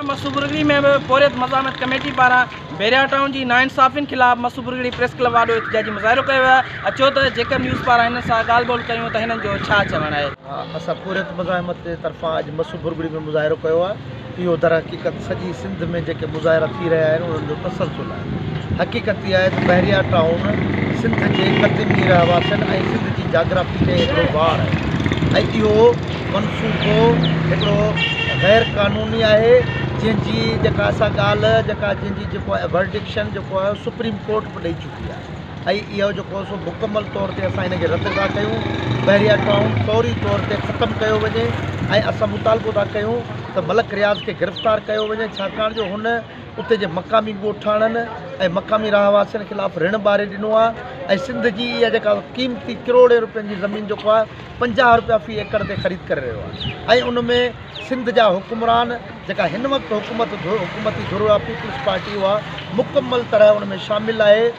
مصوبگڙي ۾ به پورهيت مزاحمت ڪميٽي پاران بحريا ٽائون جي ناانصافين خلاف مصوبگڙي پريس ڪلب آڏو احتجاجي مظاهرو ڪيو ويو اچو ته جيڪب نيوز پاران هنن سان ڳالهه ٻولهه ڪيون ته هنن جو ڇا چوڻ آهي. اسان پورهيت مزاحمت جي طرفان اڄ مصوبگڙي ۾ مظاهرو ڪيو آهي اهو درحقيقت سڄي سنڌ ۾ جيڪي مظاهرا ٿي رهيا آهن انهن جو تسلسل آهي. حقيقت اها آهي ته بحريا ٽائون سنڌ جي قديمي رهواسين ۽ سنڌ جي جاگرافي تي هڪڙو بار آهي ۽ اهو منصوبو هڪڙو غير قانوني آهي جنهن جي جيڪا اسان ڳالهه جيڪا جنهن جي جيڪو ايورڊڪشن جيڪو آهي اهو سپريم ڪورٽ به ڏئي چڪي آهي ۽ اهو جيڪو سو مڪمل طور تي اسان ان کي رد ٿا ڪيون بحريا ٽائون فوري طور تي ختم ڪيو وڃي ۽ اسان مطالبو ٿا ڪيون ته ملڪ رياض کي گرفتار ڪيو وڃي ڇاڪاڻ جو هن اتي جي مقامي ڳوٺاڻن ۽ مقامي رهواسين خلاف رڻ ٻاري ڏنو آهي ۽ سنڌ جي اها جيڪا قيمتي ڪروڙين رپين جي زمين جيڪو آهي پنجاهه رپيا في ايڪڙ تي خريد ڪري رهيو آهي ۽ ان ۾ سنڌ جا حڪمران جيڪا هن وقت حڪومت حڪومتي ڌر آهي پيپلز پارٽي اها مڪمل طرح ان ۾ شامل آهي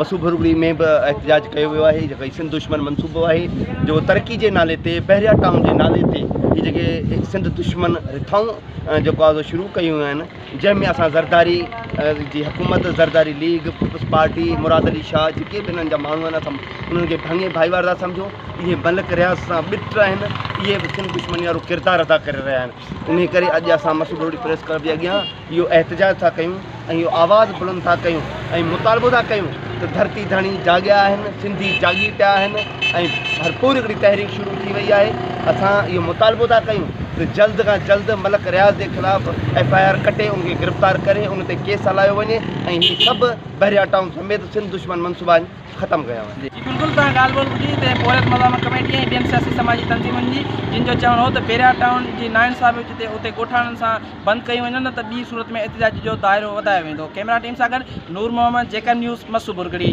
مصوبرگڙي ۾ به احتجاج ڪيو ويو آهي جيڪو سنڌ دشمن منصوبو آهي جيڪو ترقي جي نالي تي پهريا ٽائون جي نالي تي هي جيڪي سنڌ دشمن رٿائون جيڪو آزو شروع ڪيون آهن جنهن ۾ اسان زرداري جي حڪومت Zardari league peoples party Murad Ali Shah جيڪي به هنن جا ماڻهو آهن اسان انهن کي ڀاڱي ڀائيوار ٿا سمجهون اهي ملڪ رياض سان ٻٽ آهن اهي به سنڌ دشمن وارو ڪردار ادا ڪري رهيا آهن انهيء ڪري اڄ اسان مسوڊوهڙي پريس ڪلب جي اڳيان اهو احتجاج ٿا ڪيون ۽ اهو آواز بلند ٿا ڪيون ۽ مطالبو ٿا ڪيون ته ڌرتي ڌڻي جاڳيا آهن، سنڌي جاڳي پيا آهن ۽ ڀرپور هڪڙي تحريڪ شروع ٿي وئي آهي. اسان اهو مطالبو ٿا ڪيون ته جلد کان جلد ملڪ رياض جي خلاف ايف آء آر ڪٽي ان کي گرفتار ڪري ان تي ڪيس هلايو وڃي ۽ هي سڀ بحريا ٽائون سميت سنڌ دشمن منصوبا ختم ڪيا وڃن. جي بلڪل تان ڳالهه ٻولهه ٻڌي ته پورهيت مزاحمت ڪميٽي ۽ ٻين سياسي سماجي تنظيمن جي جن جو چوڻ هو ته پيريار ٽائون جي نا انصافي جتي اتي ڳوٺاڻن سان بند ڪيون وڃن نه ته ٻي صورت ۾ احتجاج جو دائرو وڌايو ويندو ڪئميرا ٽيم سان گڏ نور محمد جيڪب نيوز مسو برگڙي.